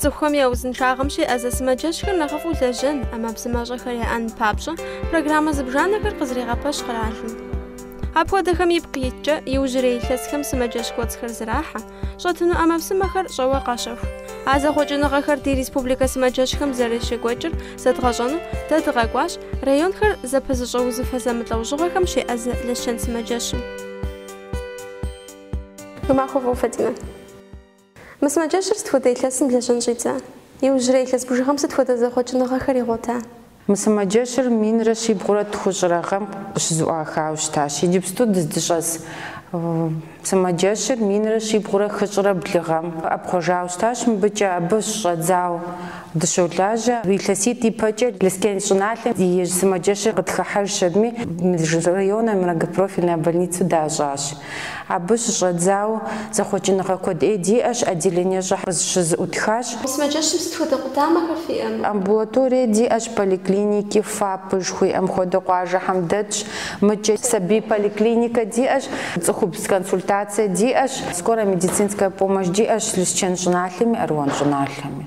Цӏыхухэм я узыншагъэм щеӏэзэ сымаджэщхэр нэхъыфӏу лэжьэн, ӏэмэпсымэщӏэхэр яӏэн папщӏэ, программэ зыбжанэхэр къызэрегъэпэщ къэралым. Апхуэдэхэм ипкъ иткӏэ, иужьрей илъэсхэм сымаджэщ кӏуэцӏхэр зэрахьэ. Щӏэтыну ӏэмэпсымэхэр щӏэуэ къащэху. А зэхъуэкӏыныгъэхэр ди республикэ сымаджэщхэм зэрыщекӏуэкӏыр зэдгъэщӏэну дэ дыкъэкӏуащ районхэр зэпызыщӏэ узыфэ зэмылӏэужьыгъуэхэм щеӏэзэ Лэщэн сымаджэщым. Уи махуэ фӏыуэ Фатимэ. Мы сымаджэщыр сыт хуэдэ илъэсым лэжьэн щӏидза? Иужьрей илъэс бжыгъэм сыт хуэдэ зэхъуэкӏыныгъэхэр игъуэта? Мы сымаджэщыр минрэ щибгъурэ тхущӏрэ гъэм къыщызыӏуахауэ щытащ. Иджыпсту дыздыщӏэс сымаджэщыр минрэ щибгъурэ хыщӏрэ блы гъэм ӏэпхъуэжауэ щытащ мыбыкӏэ, абы щыщӏэдзауэ. Дыщолажьэ илъэситӏ ипэкӏэ Лэскэн щӏыналъэм ей сымаджэщыр къытхыхьэжщ аби, межрайоннэ многопрофильная больницэу дащӏащ. Абы щыщӏэдзауэ зэхъуэкӏыныгъэ куэд ӏей диӏэщ, отделение щӏэхэр къыщызэӏутхащ. Сымаджэщым сыт хуэдэ къудамэхэр фиӏэ? Амбулаторие диӏэщ, поликлиники, ФАП жыхуиӏэм хуэдэ къуажэхэм дэтщ. Мыкӏэ сабий поликлиникэ диӏэщ, цӏыхубз консультацие диӏэщ, скорая медицинская помощь диӏэщ Лэскэн щӏыналъэми, Аруан щӏыналъэми.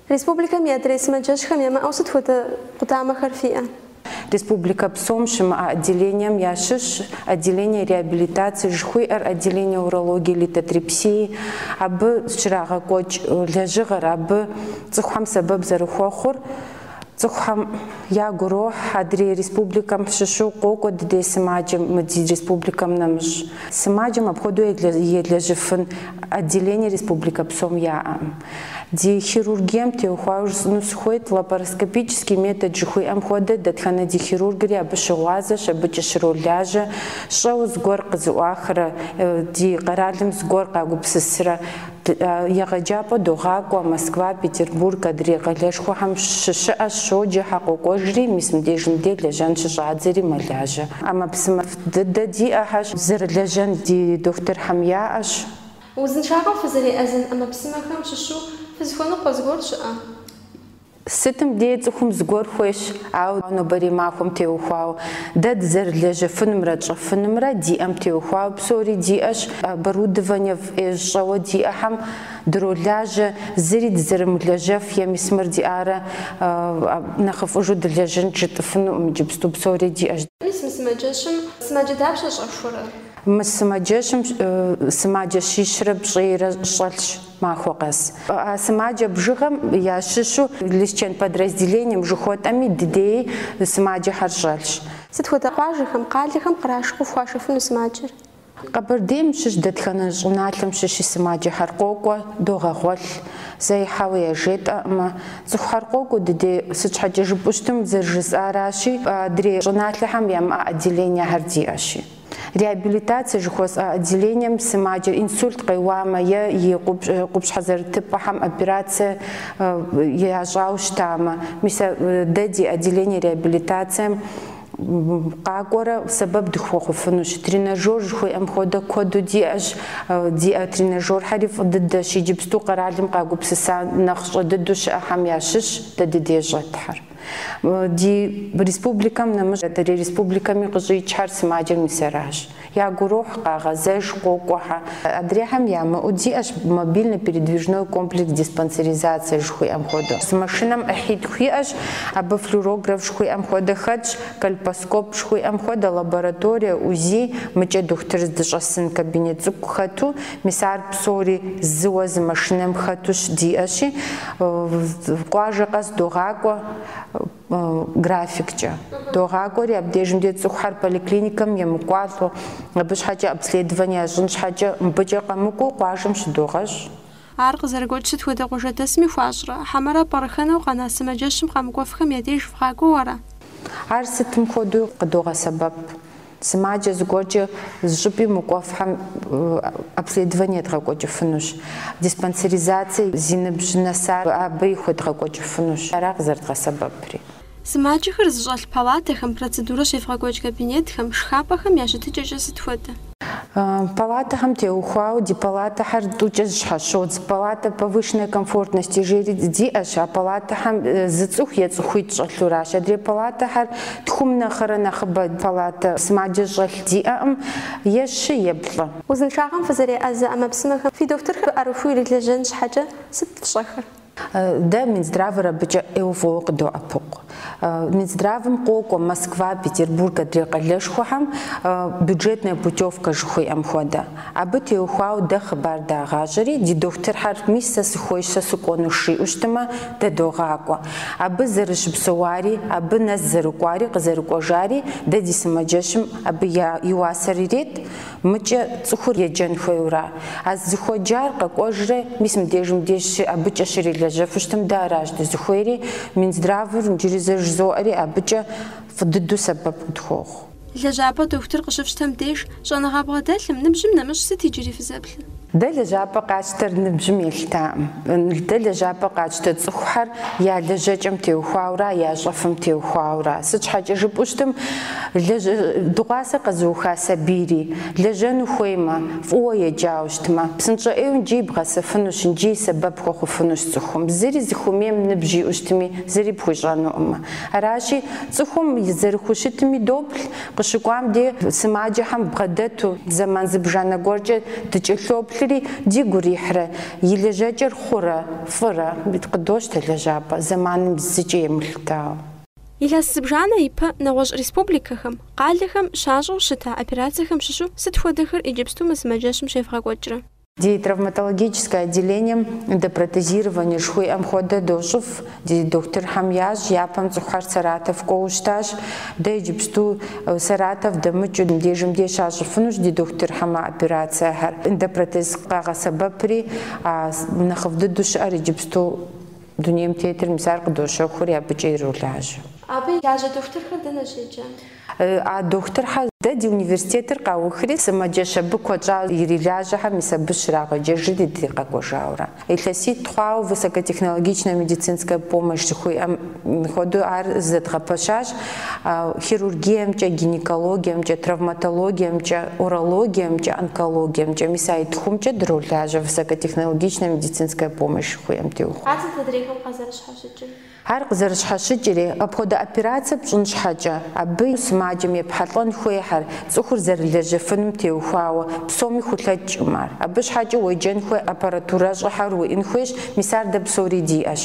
Республикэм и адрей сымаджэщхэм ямыӏэу сыт хуэдэ къудамэхэр фиӏэ? Республикэ псом щымыӏэ отделением ящыщщ отделение реабилитации жыхуиӏэр, отделение урологии, литотрипсии. Абы щрагъэкӏуэкӏ лэжьыгъэр, абы цӏыхухэм сэбэп зэрыхуэхъур, цӏыхухэм ягу ирохь. Адрей республикэм щыщу къокӏуэ ди дей сымаджэм мы ди республикэм нэмыщӏ. Сымаджэм апхуэдэу елэжьыфын отделение республикэ псом яӏэ. Ди хирургием теухуауэ жысӏэну сыхуейт, лапароскопический метод жыхуиӏэм хуэдэ, дэтхэнэ ди хирургри абы щыгъуазэщ, абыкӏэ щролажьэ, щӏэуэ зыгуэр къызыӏуахрэ ди къэралым зыгуэр къагупсысрэ егъэджапӏэ догъакӏуэ, Москва, Петербург адрей къалэшхуэхэм щыщыӏэщ, щоджэхьэ, къокӏуэжри, мис мыбдежым дей лэжьэн щыщӏадзэри мэлажьэ. ӏэмэпсымэфӏ дыдэ диӏэхэщ, зэрылэжьэн ди дохутырхэм яӏэщ. Узыншагъэм фызэреӏэзэн ӏэмэпсымэхэм щыщу фызыхуэныкъуэ зыгуэр щыӏэ? Сытым дей цӏыхум зыгуэр хуейщ, ауэ нобэрей махуэм теухуауэ дэ дызэрылэжьэфынымрэ тщӏэфынымрэ диӏэм теухуауэ псори диӏэщ, оборудование фӏеж щӏэуэ диӏэхэм дролажьэ, зыри дызэрымылэжьэф е мис мыр диӏарэ нэхъыфӏыжу дылэжьынт жытӏыфынукъым, иджыпсту псори диӏэщ. Мис мы сымаджэщым сымаджэ дапщэ щӏэхуэрэ? Мы сымаджэщым сымаджэ щищрэ пщӏейрэ щӏэлъщ махуэ къэс. А сымаджэ бжыгъэм ящыщу Лэскэн подразделением жыхуэтӏэми дыдей сымаджэхэр щӏэлъщ. Сыт хуэдэ къуажэхэм, къалэхэм кърашу къыфхуашэфыну сымаджэр? Къэбэрдейм щыщ дэтхэнэ щӏыналъэм щыщи сымаджэхэр къокӏуэ, догъэгъуэлъ, зэи хьэуэ яжетӏэкъымэ. Цӏыхухэр къокӏуэ дыдей, сыт щхьэкӏэ жыпӏэу щытым, зэрыжысӏаращи, адрей щӏыналъэхэм ямыӏэ отделениехэр диӏэщи. Реабилитацие жыхуэсӏэ отделением сымаджэр инсульт къеуамэ е и къупщхьэ зэрытыпӏэхэм операцие ящӏауэ щытамэ, мис дэ ди отделение реабилитацием къакӏуэрэ сэбэп дыхуэхъуфынущ. Тренажёр жыхуиӏэм хуэдэ куэду диӏэщ. Диӏэ тренажёрхэри фӏы дыдэщ, иджыпсту къэралым къагупсыса нэхъ щӏэ дыдэу щыӏэхэм ящыщщ дэ дыдей щӏэтхьэр. Ди республикэм нэмыщӏ адрей республикэми къыщӏикӏхьэр сымаджэ мис аращ. Ягу ирохь, къагъэзэж, къокӏуэхьэ. Адрейхэм ямыӏэу диӏэщ мобильный передвижной комплекс диспансеризацэ жыхуиӏэм хуэдэу. Зы машинэм ӏыхьитху иӏэщ, абы флюорограф жыхуиӏэм хуэдэ хэтщ, кольпоскоп жыхуиӏэм хуэдэ лабораторие, УЗИ, мыкӏэ дохутыр здыщӏэсын кабинет цӏыкӏу хэту, Мис ар псори зыуэ зы машинэм хэту щыдиӏэщи, къуажэ къэс догъакӏуэ графиккӏэ. Догъакӏуэри, абдежым де цӏыхухэр поликлиникэм емыкӏуалӏэу, абы щхьэкӏэ обследование ящӏын щхьэкӏэ, мыбыкӏэ къэмыкӏуэу къуажэм щыдогъэщӏ. Ар къызэрыгуэкӏ сыт хуэдэ къуажэдэсми хуащӏрэ? Хьэмэрэ пӏэрыхэнэу къэна сымаджэщым къэмыкӏуэфхэм я деж вгъакӏуэу ара? Ар сытым хуэдэу къыдогъэсэбэп. Сымаджэ зыгуэркӏэ зы щӏыпӏи мыкӏуэфхьэм обследование едгъэкӏуэкӏыфынущ, диспансеризацие зи ныбжь нэсар абыи хуедгъэкӏуэкӏыфынущ, ара къызэрыдгъэсэбэпри. Сымаджэхэр зыщӏэлъ палатэхэм, процедурэ щевгъэкӏуэкӏ кабинетхэм, шхапӏэхэм я щытыкӏэкӏэ сыт хуэдэ? Палатэхэм теухуауэ ди палатэхэр тӏукӏэ зыщхьэщодз. Палатэ повышенной комфортности жери диӏэщ, а палатэхэм зы цӏыху е цӏыхуитӏ щӏэлъуращ. Адрей палатэхэр Тхум нэхърэ нэхъыбэ палатэ сымаджэ щӏэлъ диӏэкъым, е щы, е плӏы. Узыншагъэм фызэреӏэзэ ӏэмэпсымэхэм фи дохутырхэр ӏэрыхуэу ирылэжьэн щхьэкӏэ сыт фщӏэхэр? Дэ Минздравыр абыкӏэ ӏейуэ фӏыуэ къыддоӏэпыкъу. Минздравым къокӏуэ Москва, Петербург адрей къалэшхуэхэм бюджетная путевка жыхуиӏэм хуэдэ. Абы теухуауэ дэ хъыбар дагъащӏэри, ди дохутырхьэр мис сэ сыхуейщ, сэ сыкӏуэнущ жиӏэу щытымэ, дэ догъакӏуэ. Абы зэрыщыпсэуари, абы нэс зэрыкӏуари, къызэрыкӏуэжари, дэ ди сымаджэщым абы и уасэр ирет, Мыкӏэ цӏыхур еджэн хуейуэра? А зыхуеджар къэкӏуэжрэ мис мыбдежым деж, абыкӏэ щрилэжьэфу щытым, дэ аращ дызыхуейри, Минздравыр иджыри зэ жызоӏэри, абыкӏэ фӏы дыдэу сэбэп къытхуохъу. Лэжьапӏэ дохутыр къыщыфщтэм деж, щӏэныгъэ бгъэдэлъым, ныбжьым нэмыщӏ сыт иджыри фызэплъыр? Дэ лэжьапӏэ къэтщтэр ныбжьым елъытакъым. Дэ лэжьапӏэ къэтщтэ цӏыхухэр я лэжьэкӏэм теухуаура, я щӏэфым теухуаура. Сыт щхьэкӏэ жыпӏэу щытым, дыгъуасэ къэзыуха сабийри, лэжьэну хуеймэ, фӏыуэ еджауэ щытмэ, псынщӏэ ӏейуэ икӏи бгъэсэфынущ, икӏи сэбэп хуэхъуфынущ цӏыхум. Зыри зыхуэмейм ныбжь иӏэу щытми, зыри пхуищӏэнукъымэ. Аращи, цӏыхум зэрыхущытми доплъ, къыщыкӏуам де сымаджэхэм бгъэдэту, зэман зыбжанэ гуэркӏэ дыкӏэлъоплъри, дигу ирихьрэ, и лэжьэкӏэр хъурэ, фӏырэ? Къыдощтэ лэжьапӏэ, зэманым зыкӏи емылъытауэ. Илъэс зыбжанэ ипэ нэгъуэщӏ республикэхэм, къалэхэм щащӏэу щыта операцэхэм щыщу сыт хуэдэхэр иджыпсту мы сымаджэщым щевгъэкӏуэкӏрэ? Ди травматологическое отделением эндопротезирование жыхуиӏэм хуэдэ дощӏыф. Ди дохутырхэм ящӏ япэм цӏыхухэр Саратов кӏуэуэ щытащ. Дэ иджыпсту Саратов дэмыкӏыу мыбдежым деж щащӏыфынущ ди дохутырхэм а операцэхэр. Эндопротез къагъэсэбэпри а нэхъыфӏ дыдэу щыӏэр иджыпсту дунейм тетыр, мис ар къыдощэхури абыкӏэ иролажьэ. Абы ирилажьэ дохутырхэр дэнэ щеджэ? А дохутырхьэ, дэ ди университетыр къаухри, сымаджэщ абы куэд щӏа ирилажьэхэм мис абы щрагъэджэжри ди къэкӏуэжауэрэ. Илъэситӏ хъуауэ высокотехнологичная медицинская помощь жыхуиӏэм хуэдэу ар зэдгъэпэщащ хирургиемкӏэ, гинекологиемкӏэ, травматологиемкӏэ, урологиемкӏэ, онкологиемкӏэ. Мис а и тхумкӏэ дролажьэ высокотехнологичная медицинская помощь жыхуиӏэм теухуауэ. Ар сыт адрейхэм къазэрыщхьэщыкӏыр. Ар къызэрыщхьэщыкӏри, апхуэдэ операцэ пщӏын щхьэкӏэ, абы сымаджэм епхьэлӏэн хуейхьэр, цӏыхур зэрылэжьэфыным теухуауэ, псоми хулъэкӏкъым ар. Абы щхьэкӏэ уеджэн хуей аппаратурэщӏэхэр уиӏэн хуейщ, мис ар дэ псори диӏэщ.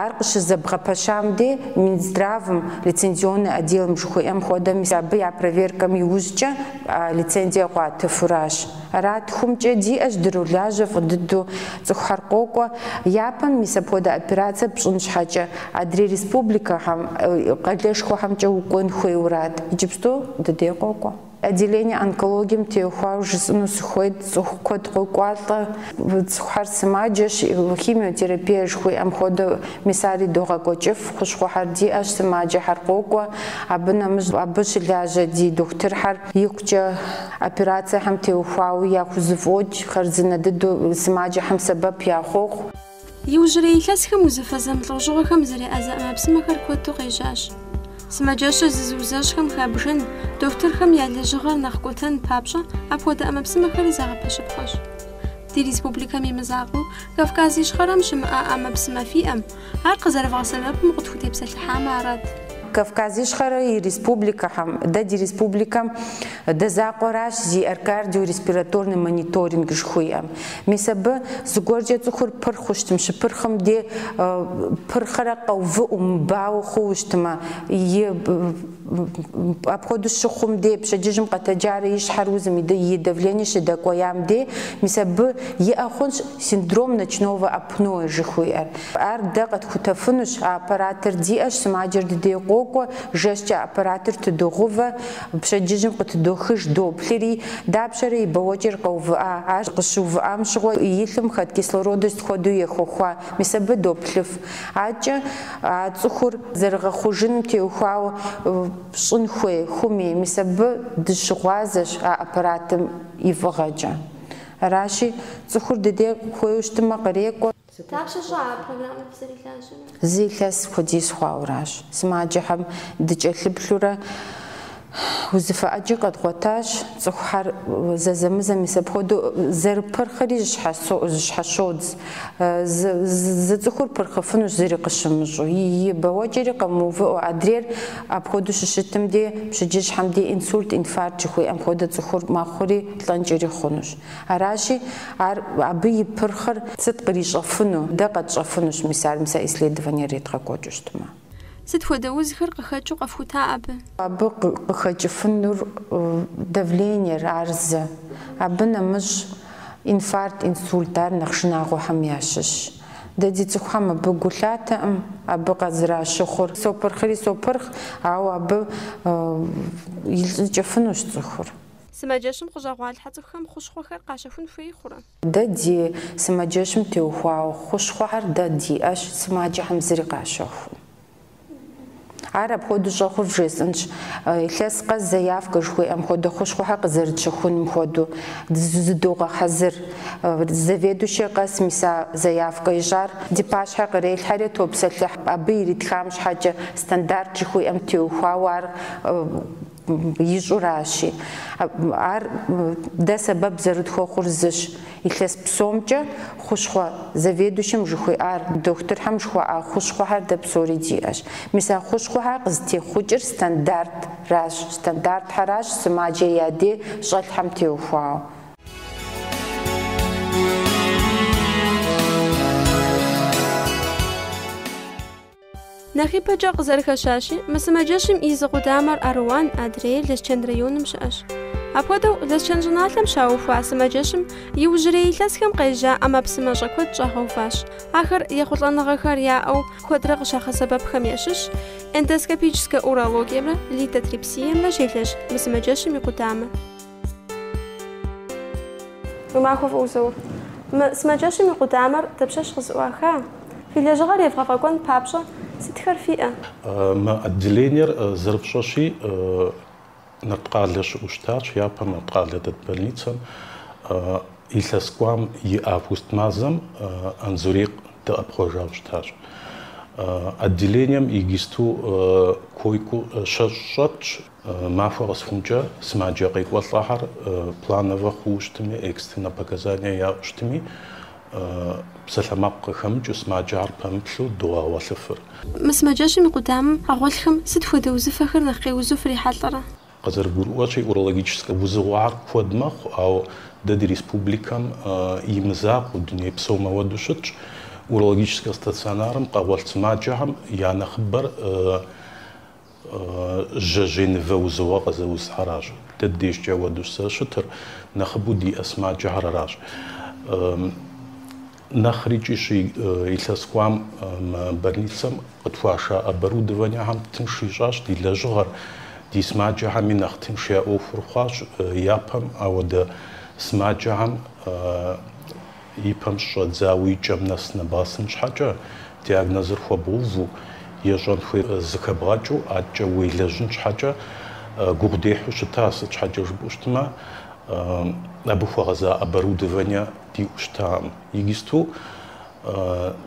Ар къыщызэбгъэпэщам дей, Минздравым, лицензионный отделым жыхуиӏэм хуэдэ, мис абы я проверкэм иужькӏэ лицензие къуатыфуращ. Ар а тхумкӏэ диӏэщ дыролажьэ фӏы дыдэу, цӏыхухэр къокӏуэ, япэм мис апхуэдэ операцэ пщӏын щхьэкӏэ, адрей республикэхэм, къалэшхуэхэмкӏэ укӏуэн хуейуэрат, иджыпсту ди дей къокӏуэ. Отделение онкологием теухуауэ жысӏэну сыхуейт, цӏыху куэд къокӏуалӏэ, цӏыхухэр сымаджэщ, химиотерапие жыхуиӏэм хуэдэу, мис ари догъэкӏуэкӏыф, хущхъуэхэр диӏэщ, сымаджэхэр къокӏуэ, абы нэмыщӏ абы щылажьэ ди дохутырхэр, Икъукӏэ операцэхэм теухуауэ яхузэфӏокӏ хъарзынэ дыдэу сымаджэхэм сэбэп яхуохъу. Иужьрей илъэсхэм узыфэ зэмылӏэужьыгъуэхэм зэреӏэзэ ӏэмэпсымэхэр куэду къежьащ. Сымаджэщыр зызыузэщӏхэм хабжэн, дохутырхэм я лэжьыгъэр нэхъ кӏуэтэн папщӏэ апхуэдэ ӏэмэпсымэхэри зэгъэпэщыпхъэщ. Ди республикэм и мызакъуэу, Кавказ Ищхъэрэм щымыӏэ ӏэмэпсымэ фиӏэм, Ар къызэрывгъэсэбэпым къытхутепсэлъыхьамэ арат. Кавказ Ищхъэрэ и республикэхэм, дэ ди республикэм дэ закъуэращ зиӏэр кардио-респираторный мониторинг жыхуиӏэм. Мис абы зыгуэркӏэ цӏыхур пырхъыу щытым, щыпырхъым де пырхъэрэ къэувыӏэу, мыбауэ хъууэ щытмэ, и. Апхуэдэу щыхъум дей, пщэдджыжьым къэтэджарэ и щхьэр узым и давление щыдэкӏуеям дей, мис абы иӏэ хъунщ синдром ночного апноэ жыхуиӏэр. Ар дэ къэтхутэфынущ, а аппаратыр диӏэщ, сымаджэр дыдей къокӏуэ, жэщкӏэ аппаратыр тыдогъувэ, пщэдджыжьым къытыдохыж доплъыри, дапщэрэ и бэуэкӏэр къэувыӏа, ар къыщыувыӏам щыгъуэ и лъым хэт кислородыр сыт хуэдэу ехуэхуа, мис абы доплъыф. Адэкӏэ а цӏыхур зэрыгъэхъужыным теухуауэ щӏын хуей хъуми, мис абы дыщыгъуазэщ а аппаратым и фӏыгъэкӏэ. Аращи, цӏыхур дыдей хуейуэ щытмэ, кърекӏуэ. Дапщэ щӏа а программэр дызэрилажьэрэ? Зы илъэс хуэдиз хъуауэращ. Сымаджэхэм дыкӏэлъыплъурэ. Узыфэ ӏэджи къэдгъуэтащ, цӏыхухьэр зэзэмызэ мис апхуэдэу зэрыпырхъри зыщхьэщодз, зы цӏыхур пырхъыфынущ зыри къыщымыщӏу, и бэуэкӏэри къэмыувыӏэу. Адрейр апхуэдэу щыщытым дей, пщэдджыжьхэм дей инсульт, инфаркт жыхуиӏэм хуэдэ цӏыхур мэхъури, лӏэнкӏэри хъунущ. Аращи, ар, абы и пырхъыр сыт кърищӏэфыну, дэ къэтщӏэфынущ мис ар, мис а исследованиер редгъэкӏуэкӏыу щытмэ. Сыт хуэдэ узхэр къыхэкӏыу къэфхута абы? Абы къыхэкӏыфынур давлениер, ар зы. Абы нэмыщӏ инфаркт, инсульт, ар нэхъ шынагъуэхэм ящыщщ. Дэ ди цӏыхухэм абы гу лъатэӏым, абы къызэращыхъур сопырхъри сопырхъ, ауэ абы илӏыкӏыфынущ цӏыхур. Сымаджэщым къыщӏэгъуалъхьэ цӏыхухэм хущхъуэхэр къащэхун хуей хъурэ? Дэ ди сымаджэщым теухуауэ хущхъуэхэр дэ диӏэщ, сымаджэхэм зыри къащэхуу. Ар апхуэдэу щӏэхъур вжесӏэнщ, илъэс къэс заявкэ жыхуиӏэм хуэдэ хущхъуэхэр къызэрытщэхуным хуэдэу зыдогъэхьэзыр. Заведующэ къэс мис а заявкэ ищӏар ди пащхьэ кърелъхьэри топсэлъыхь, абы иритхам щхьэкӏэ стандарт жыхуиӏэм теухуауэ ар ищӏуращи, ар дэ сэбэп зэрытхуэхъур зыщ, илъэс псомкӏэ хущхъуэ заведующэм жыхуиӏар, дохутырхэм жыхуаӏа хущхъуэхэр дэ псори диӏэщ. Мис а хущхъуэхэр къызытехъукӏыр стандартыращ, стандартхьэращ сымаджэ я дей щӏэлъхьэм теухуауэ. Нэхъ ипэкӏэ къызэрыхэщащи, мы сымаджэщым и зы къудамэр Аруан адрейр Лэсчэн районым щыӏэщ. Апхуэдэу, Лэсчэн щӏыналъэм щаухуа сымаджэщым иужьрей илъэсхэм къежьа ӏэмэпсымэщӏэ куэд щӏагъэуващ. Ахэр ехъулӏэныгъэхэр яӏэу куэдрэ къыщагъэсэбэпхэм ящыщщ эндоскопическэ урологиемрэ литотрипсиемрэ щелэжь мы сымаджэщым и къудамэ. Уи махуэ фӏыуэ Заур. Мы сымаджэщым и къудамэр дапщэщ къызыӏуаха? Фи лэжьыгъэр евгъэфӏэкӏуэн папщӏэ сытхэр фиӏэ? Мы отделениер зэрыпщӏэщи, Нарткъалэ щыӏэу щытащ, япэм Нарткъалэ дэт больницэм. Илъэс кӏуам и август мазэм Анзорей къыдэӏэпхъуэжауэ щытащ. Отделением игисту койкэу щэщӏ щӏэтщ. Махуэ къэсыхункӏэ сымаджэ къекӏуэлӏэхэр плановэ хъууэ щытми, экстреннэ показание яӏэу щытми, псалъэмакъ къыхэмыкӏыу сымаджэхэр пэмыплъу догъэгъуэлъыфыр. Мы сымаджэщым и къудамэм къэгъуэлъхэм сыт хуэдэ узыфэхэр нэхъ къеузу фрихьэлӏэрэ? Къызэрыгурыӏуэщи, урологическэ узыгъуэхэр куэд мэхъу, ауэ дэ ди республикэм и мызакъуэу, дуней псом ауэдэу щытщ. Урологическэ стационарым къэгъуэлъ сымаджэхэм я нэхъыбэр Жьэжьей нывэ узыгъуэ къызэузхэращ. Дэ дежкӏэ ауэдэущ зэрыщытыр, нэхъыбэу диӏэ сымаджэхэр аращ. Нэхъри кӏищ илъэс кӏуам больницэм къытхуаша оборудованиехэм тынш ищӏащ ди лэжьыгъэр. Ди сымаджэхэми нэхъ тынш я ӏуэхур хъуащ япэм ауэдэ сымаджэхэм. И пэм щыщӏэдзауэ и кӏэм нэс нэбгъэсын щхьэкӏэ, диагнозыр хуэбгъэуву, ещӏэн хуейр зыхэбгъэкӏыу адэкӏэ уелэжьын щхьэкӏэ гугъу дехьу щыта, сыт щхьэкӏэ жыпӏэу щытмэ, абы хуэгъэза оборудование диӏэу щытакъым. Иджысту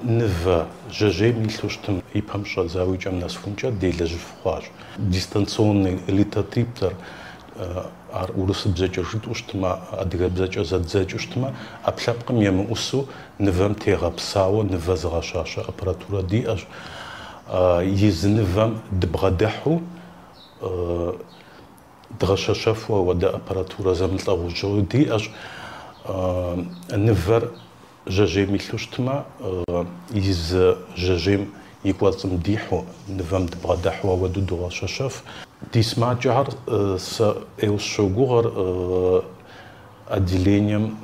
нывэ жьэжьейм илъу щытым, и пэм щыщӏэдзауэ и кӏэм нэсыхункӏэ делэжьыф хъуащ. Дистанционный литотриптор ар урысыбзэкӏэ жытӏэу щытмэ, адыгэбзэкӏэ зэддзэкӏыу щытмэ, ӏэпкълъэпкъым емыӏусу нывэм тегъэпсауэ нывэ зыгъэщащэ аппаратурэ диӏэщ. Езы нывэм дыбгъэдыхьу дгъэщэщэфу ауэдэ аппаратурэ зэмылӏэгъужьыгъуи диӏэщ. Нывэр Жьэжьейм илъу щытмэ, езы жьэжьейм и кӏуэцӏым дихьу, нывэм дыбгъэдэхьу ауэдэу догъэщэщэф. Ди сымаджэхэр сэ ӏейуэ сыщогугъыр отделением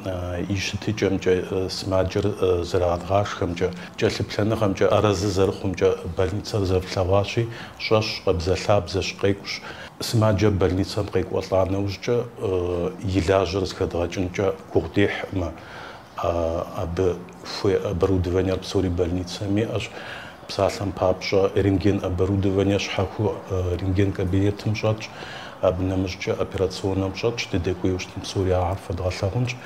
и щытыкӏэмкӏэ, сымаджэр зэрагъэдгъашхэмкӏэ, кӏэлъыплъэныгъэмкӏэ, арэзы зэрыхъумкӏэ, больницэр зэрыплъэгъуащи, щӏэщ, къэбзэлъабзэщ, къекӏущ. Сымаджэр больницэм къекӏуэлӏа нэужькӏэ и лажьэр зыхэдгъэкӏынкӏэ гугъу дехькъымэ. абы хуей оборудованиер псори больницэм иӏэщ. Псалъэм папщӏэ, рентген оборудование щхьэхуэу рентген кабинетым щӏэтщ, абы нэмыщӏкӏэ операционнэм щӏэтщ, дыдэкӏуейуэ щытым псори ахэр фэдгъэлъагъунщ.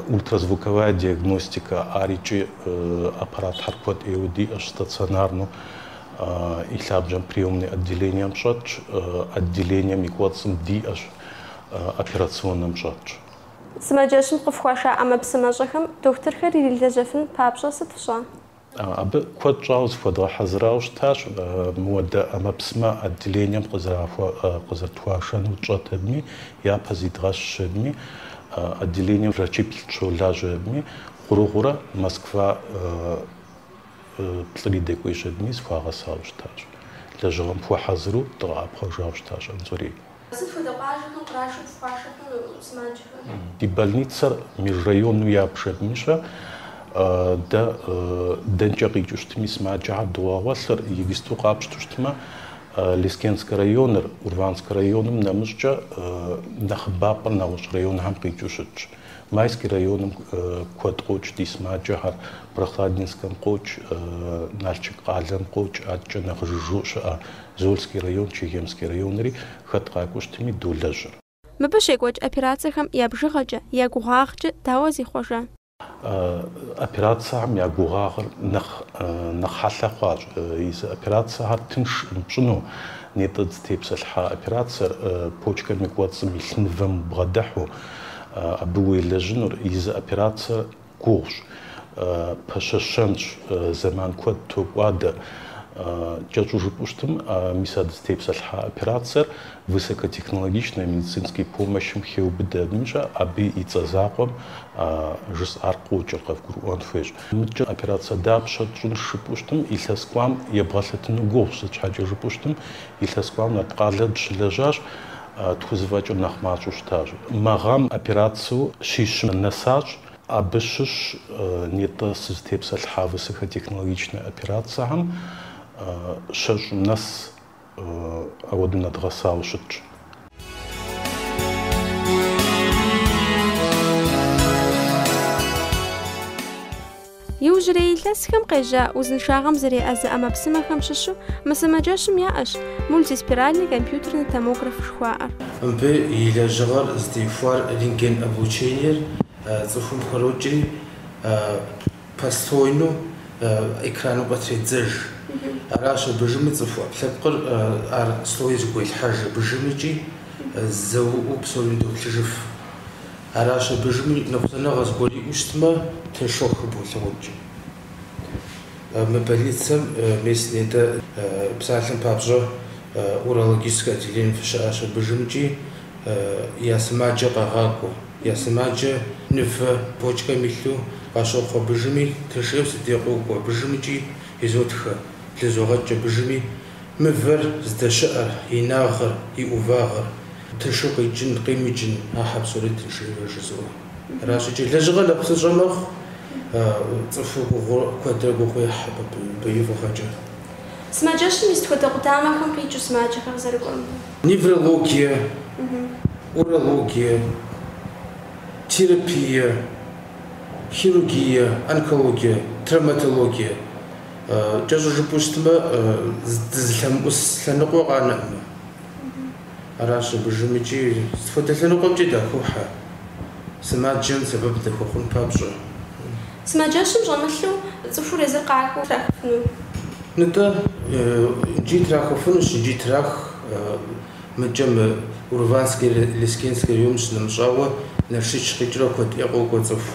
Ультразвуковая диагностика, ар икӏи аппаратхэр куэд ӏейуэ диӏэщ, стационарнэу и лъабжьэм приемный отделением щӏэтщ, отделением и кӏуэцӏым диӏэщ, операционнэм щӏэтщ. Сымаджэщым къыфхуаша ӏэмэпсымэщӏэхэм дохутырхэр ирилэжьэфын папщӏэ сыт фщӏа? Абы куэд щӏауэ зыхуэдгъэхьэзырауэ щытащ, мыуэдэ ӏэмэпсымэ отделением къызэрытхуашэну тщӏэтэдми, япэ зидгъэщщэдми, отделением врачиплӏ щолажьэдми, гъуэрыгъуэурэ Москва плӏыри дэкӏуейщэдми, зыхуагъэсауэ щытащ. Лэжьыгъэм хуэхьэзыру дыкъэӏэпхъуэжауэ щытащ Анзорей. Сыт хуэдэ къуажэхэм кърашэу фхуашэхэр сымаджэхэм? Ди больницэр межрайонну ябжэдмыщэ дэ дэнкӏэ къикӏыу щытми сымаджэхэр догъэгъуэлъыр игисту къапщту щытмэ Лескенскэ районыр, Урванскэ районым нэмыщӏкӏэ нэхъыбапӏэр нэгъуэщӏ районхэм къикӏыу щытщ. Майский районым куэд къокӏ ди сымаджэхэр, Прохладинскэм къокӏ, Налчык къалэм къокӏ, адэкӏэ нэхъ жыжьэу щыӏэ Зольский район, Чегемский районри хэт къакӏуэу щытми долэжьыр. Мыбы щекӏуэкӏ операцэхэм я бжыгъэкӏэ, я гугъагъкӏэ дауэ зихъуэжа? Операцэхэм я гугъагъыр нэхъ нэхъ хьэлъэ хъуащ. Езы операцэхэр тыншкъым пщӏыну, нетӏэ дызытепсэлъхьа операцэр, почкэм и кӏуэцӏым илъ мывэм убгъэдыхьу, Абы уелэжьынур езы операцэр гугъущ, пэщэщэнщ, зэман куэд токӏуадэ. Кӏэщӏу жыпӏэу щытым, мис а дызытепсэлъхьа операцэр высокотехнологичнэ медицинскэ помощым хеубыдэ. Абымкӏэ абы и цӏэ закъуэм жысӏар къокӏыр, къэвгурыӏуэн хуейщ. Мыдкӏэ операцэ дапщэ тщӏынщ жыпӏэу щытым, илъэс кӏуам ебгъэлъэтыну гугъущ, сыт щхьэкӏэ жыпӏэу щытым, илъэс кӏуам Нарткъалэ дыщылэжьащ. тхузэфӏэкӏыр нэхъ мащӏэу щытащ. Мы гъэм операцэу щищым нэсащ. Абы щыщ нетӏэ сызытепсэлъыхьа высокотехнологичнэ операцэхэм щэщӏым нэс ауэдэу нэдгъэсауэ щытщ. Иужьрей илъэсхэм къежьа узыншагъэм зэреӏэзэ ӏэмэпсымэхэм щыщу мы сымаджэщым яӏэщ мультиспиральный компьютерный томограф жыхуаӏэр. Мыбы и лэжьыгъэр зытехуар рентген облучениер цӏыхум пхрокӏри, послойну экраным къытредзэж. Аращ абы жыми цӏыху ӏэпкълъэпкъыр ар слой зыгуелъхьэж, абы жыми кӏи зэуэ псори доплъыжыф. Аращ абы дежыми ныкъусаныгъэ зыгуэр иӏэу щытмэ, тыншу хыболъагъукӏ. Мы больницэм местнэ дэ псалъэм папщӏэ урологическэ отделение фыщыӏащ, абы дежымкӏи я сымаджэ къагъакӏуэ. Я сымаджэ мывэ почкэм илъу къащохъу, абы дежыми тыншу си дей къокӏуэ, абы дежымкӏи изотхэ, блызогъэкӏ абы дежыми. Мывэр здэщыӏэр, и инагъыр, и ӏувагъыр, тыншу къикӏын, къимыкӏын, ахэр псори тыншу яжызоӏэ. Аращ икӏи, лэжьыгъэр нэхъ псынщӏэ мэхъу, цӏыхур гугъу куэдрэ гугъу ехь абы мыбы и фӏыгъэкӏэ. Сымаджэщым и сыт хуэдэ къудамэхэм къикӏыу сымаджэхэр къызэрыкӏуэм ди. Неврологие, урологие, терапие, хирургие, онкологие, травматологие, Кӏэщӏу жыпӏэу щытмэ, дызылъэмыӏус лъэныкъуэ къанэӏымэ. Аращ абы дежымкӏи сыт хуэдэ лъэныкъуэмкӏи дахохьэ, сымаджэм сэбэп дыхуэхъун папщӏэ. Сымаджэщым щӏэмылъу цӏыхур езыр къакӏуэу трахыфыну? Нтӏэ, икӏи трахыфынущ, икӏи трах. Мыкӏэ мы Урванскэ-Лескенскэ районым щынэмыщӏауэ, Налшыч къикӏрэ куэд ӏей къокӏуэ цӏыху.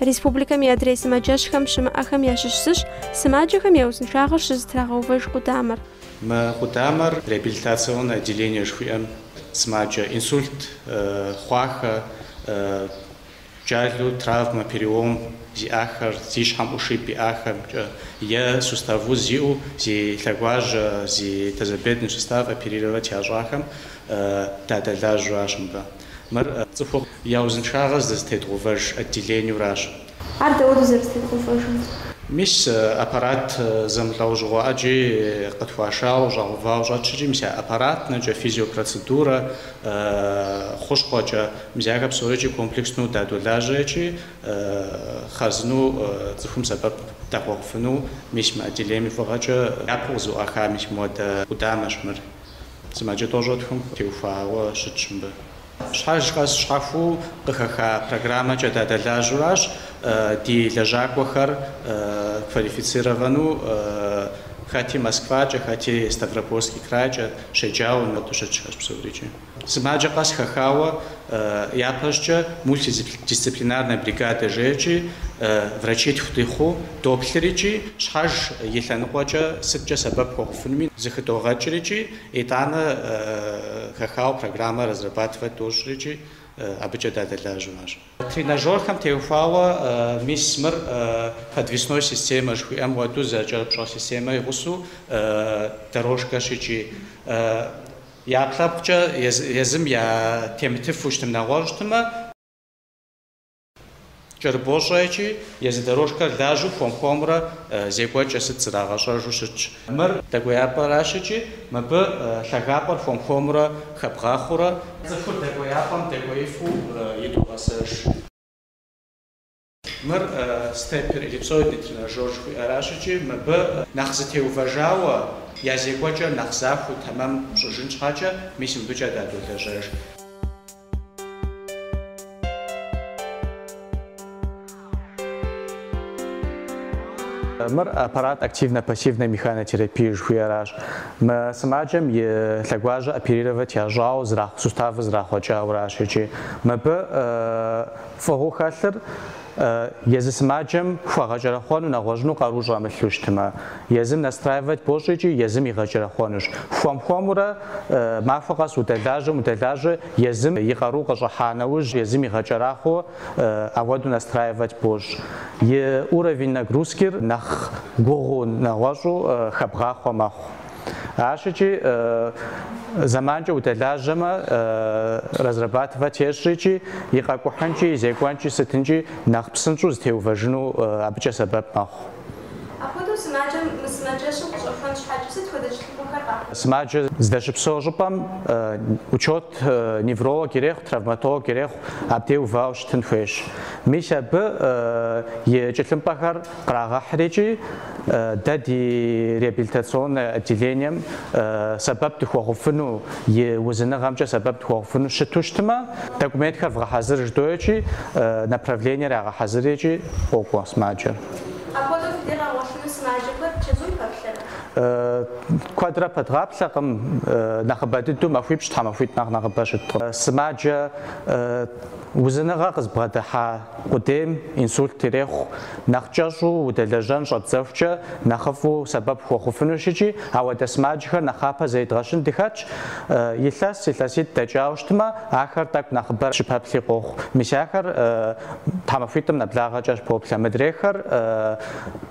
Республикэм и адрей сымаджэщхэм щымыӏэхэм ящыщ зыщ сымаджэхэм я узыншагъэр щызэтрагъэувэж къудамэр. Мы къудамэр реабилитационнэ отделение жыхуиӏэм сымаджэ инсульт хъуахэ, джалэу травмэ, перелом зиӏахэр, зи щхьэм ушиб иӏахэмкӏэ е сустав уз зиӏэу зи лъэгуажьэ, зи тазобедренный сустав оперировать ящӏахэм дадэлажьэу арщ мыбы. Мыр цӏыху я узыншагъэр здызэтедгъэувэж отделениуращ. Ар дауэду зэрызэтедгъэувэжыр? Мис аппарат зэмылӏэужьыгъуэ ӏэджи къытхуашауэ, щӏэгъэувауэ щӏэтщ икӏи, мис а аппаратнэкӏэ, физиопроцедурэ хъущхъуэкӏэ, мис ахэр псорикӏи комплекснэу дадолажьэ икӏи, хъарзынэу цӏыхум сэбэп дахуэхъуфыну, мис мы отделением и фӏыгъэкӏэ япэу къызэӏуаха мис мыпхуэдэ къудамэщ мыр. Сымаджэ тӏощӏрэ тхум теухуауэ щытщ мыбы. Щхьэж къэс щхьэхуэу къыхэха программэкӏэ дадэлажьэуращ ди лэжьакӏуэхэр квалифицировану хэти Москвакӏэ, хэти Ставропольский крайкӏэ щеджауэ мыбы щытхэщ псорикӏи. Сымаджэ къэс хэхауэ Япэщӏкӏэ мультидисциплинарнэ бригадэ жеӏэ икӏи, врачитху дыхъуу доплъыр икӏи щхьэж и лъэныкъуэкӏэ сыткӏэ сэбэп хуэхъуфынуми зэхыдогъэкӏыр икӏи итӏанэ хэхауэ программэ разрабатывать дощӏыр икӏи абыкӏэ дадэлажьэу арщ. Тренажерхэм теухуауэ мис мыр подвесной системэ жыхуиӏэм хуэдэу зэкӏэрыпщӏэ системэ и гъусэу дорожкэщ икӏи. Я ӏэпкълъэпкъкӏэ езым я темытыфу щытым нэгъуэщӏ щытымэ, кӏэрыбощӏэ икӏи езы дорожкэр лажьэу хуэм-хуэмурэ зекӏуэкӏэ сыт зрагъэщӏэжу щытщ. Мыр дэкӏуеяпӏэращ икӏи мыбы лъагапӏэр хуэм-хуэмурэ хэбгъэхъуурэ. Цӏыхур дэкӏуеяпӏэм дэкӏуеифу идогъэсэж. Мыр степпер эллипсоидный тренажёр жыхуиӏэращ икӏи мыбы нэхъ зытеувэжауэ, я зекӏуэкӏэ нэхъ захуэу тэмэм пщӏыжын щхьэкӏэ мис мыбыкӏэ дадолэжьэж. Мыр аппарат активно-пассивной механотерапии жыхуиӏэращ. Мы сымаджэм и лъэгуажьэ оперировать ящӏауэ суставыр зрахъуэкӏауэращ икӏи мыбы Фӏыгъуэу хэлъыр, езы сымаджэм хуэгъэкӏэрэхъуэну нэгъуэщӏыну къару щӏэмылъу щытмэ, езым настраивать бощӏ икӏи езым игъэкӏэрэхъуэнущ. Хуэм-хуэмурэ, махуэ къэс удэлажьэм удэлажьэ, езым и къару къыщӏыхьа нэужь, езым игъэкӏэрахъуэу ауэдэу настраивать бощӏ. И уровень нагрузкир нэхъ гугъуу, нэгъуэщӏу хэбгъахъуэ мэхъу. Ащыкӏи зэманкӏэ удэлажьэмэ, разрабатывать ещӏрикӏи, и къэкӏухьынкӏи, и зекӏуэнкӏи сытынкӏи нэхъ псынщӏэу зытеувэжыну абыкӏэ сэбэп мэхъу. Апхуэдэу сымаджэм мы сымаджэщым къыщӏэхуэн щхьэкӏэ сыт хуэдэ щытыкӏэхэр къахуэхъу? Сымаджэ здэщыпсэу щӏыпӏэм учет невролог ирехъу, травматолог ирехъу, абдей увауэ щытын хуейщ. Мис абы и тхылъымпӏэхэр Кърагъэхьрикӏи, дэ ди реабилитационнэ отделением сэбэп дыхуэхъуфыну, и узыныгъэмкӏэ сэбэп дыхуэхъуфыну щыту щытмэ, документхэр вгъэхьэзыр жыдоӏэкӏи, направлениер ягъэхьэзырикӏи къокӏуэ сымаджэр. Апхуэдэу фи дей ягъэгъуэлъыну сымаджэхэр чэзум пэплъэрэ? Куэдрэ пэдгъаплъэкъым, нэхъыбэ дыдэу махуипщӏ, тхьэмахуитӏ нэхъ нэхъыбэ щыткъым. Сымаджэ узыныгъэ къызбгъэдыхьа Къудейм инсульт ирехъу, нэхъ кӏэщӏу удэлэжьэн щӏэбдзэхукӏэ нэхъыфӏу сэбэп хуэхъуфынущ икӏи ауэдэ сымаджэхэр нэхъапэ зэридгъэщын дыхэтщ. Илъэс, илъэситӏ дэкӏауэ щытмэ, ахэр тӏэкӏу нэхъыбэрэ щыпэплъи къохъу. Мис ахэр тхьэмахуитӏым нэблагъэкӏэ поплъэ. Мыдрейхэр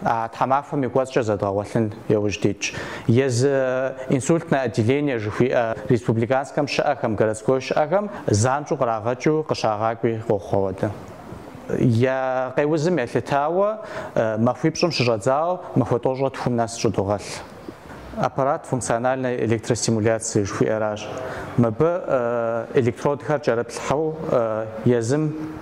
а тхьэмахуэм и кӏуэцӏкӏэ зэдгъэгъуэлъын яужь дитщ. Езы инсультнэ отделение жыхуиӏэ республиканскэм щыӏэхэм, городской щыӏэхэм занщӏэу кърагъэкӏыу къыщагъакӏуи къохъу ауэдэ. Я къеузым елъытауэ, махуипщӏым щыщӏэдзауэ махуэ тӏощӏрэ тхум нэс щӏыдогъэлъ. Аппарат функциональной электростимуляции жыхуиӏэращ. Мыбы электродхэр кӏэрыплъхьэу езым.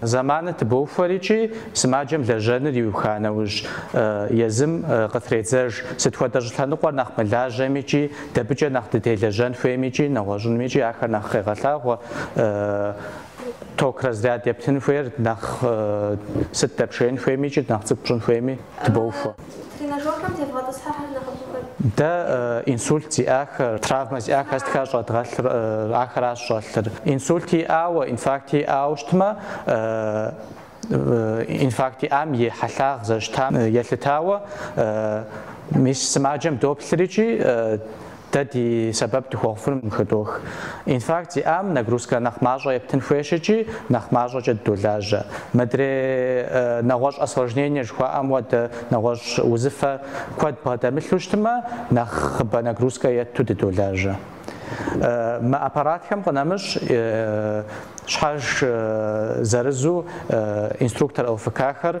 Зэманыр тыбоухуэри икӏи сымаджэм лэжьэныр иуха нэужь, езым къытредзэж, сыт хуэдэ щӏылъэныкъуэр нэхъ мылажьэми икӏи дэбыкӏэ нэхъ дытелэжьэн хуейми икӏи нэгъуэщӏынми икӏи ахэр нэхъ къегъэлъагъуэ, ток разряд ептын хуейр нэхъ сыт дэпшеин хуейми икӏи нэхъ цӏыкӏу пщӏын хуейми тыбоухуэ. Цӏыху тренажерхэм тевгъэтӏысхьэхэр нэхъыфӏхэр. Дэ инсульт зиӏахэр, травмэ зиӏахэр сытхэращ щӏэдгъэлъыр, ахэращ щӏэлъыр. Инсульт иӏауэ, инфаркт иӏауэ щытмэ, инфаркт иӏам и хьэлъагъ зэрыщытам елъытауэ мис сымаджэм доплъри икӏи Дэ ди сэбэп дыхуэхъуфыным хыдох. Инфаркт зиӏам нагрузкэ нэхъ мащӏэ ептын хуейщ икӏи нэхъ мащӏэкӏэ дыдолажьэ. Мыдрей нэгъуэщӏ осложнение жыхуаӏэм хуэдэ нэгъуэщӏ узыфэ куэд бгъэдэмылъу щытмэ, нэхъыбэ нагрузкэ етту дыдолажьэ. Мы аппаратхэм къынэмыщӏ щхьэж зырызу инструктор ЛФК-хэр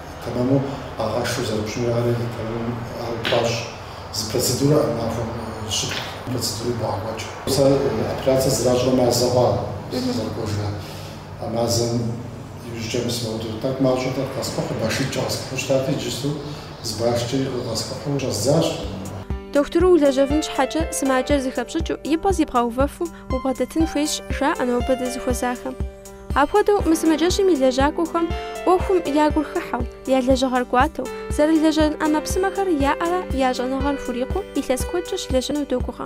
Тэмэму къагъэшэу зэрыпщӏынур ар итэмым ар упащӏ. Зы процедурэ ар махуэм щы-плӏы процедурэ ибогъэкӏуэкӏ. Сэ операцэ зэращӏрэ мазэ хъуа сызэрыкӏуэжрэ? А мазэм иужькӏэ мы сымаудэрт. Тӏэкӏу мащӏэ тӏэкӏу къэскӏухьу, башитӏкӏэ къэскӏухьу щытати, иджысту зы башкӏэ къэскӏухьу щӏэздзащ. Дохутыру улэжьэфын щхьэкӏэ сымаджэр зыхэпщӏыкӏыу, и пӏэ зибгъэувэфу убгъэдэтын хуейщ, жаӏэ нобэ дызыхуэзахэм. Апхуэдэу мы сымаджэщым и лэжьакӏуэхэм ӏуэхум я гур хыхьэу, я лэжьыгъэр кӏуатэу, зэрылэжьэн ӏэмэпсымэхэр яӏэрэ я щӏэныгъэр хурикъуу илъэс куэдкӏэ щылэжьыну догугъэ.